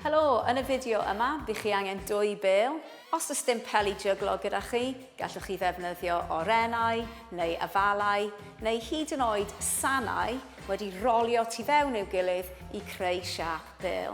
Helo, yn y fideo yma, bych chi angen dwy bêl. Os oes dim peli jyglo gyda chi, gallwch chi ddefnyddio orennau neu afalau neu hyd yn oed sanau wedi rolio tu fewn i'w gilydd i creu siâp bêl.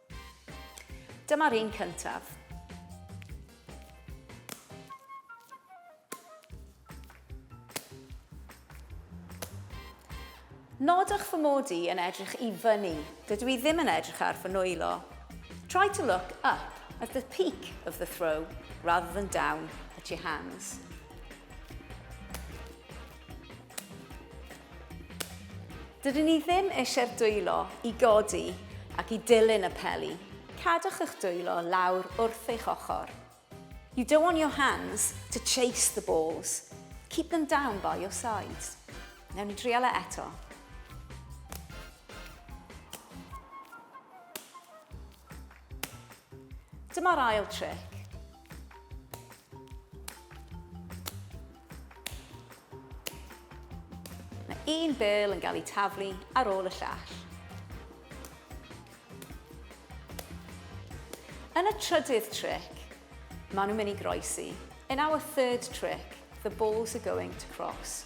Dyma'r un cyntaf. Nodwch fy mod i yn edrych i fyny. Dydw i ddim yn edrych ar fy nwylo. Try to look up at the peak of the throw rather than down at your hands. Dydyn ni ddim eisiau'r dwylo i godi ac i dilyn y peli. Cadwch eich dwylo lawr wrth eich ochr. You don't want your hands to chase the balls. Keep them down by your sides. Newn ni drial e eto. Dyma'r ail tric. Mae un bêl yn cael ei taflu ar ôl y llall. Yn y trydydd tric, maen nhw'n mynd i groesi. In our third trick, the balls are going to cross.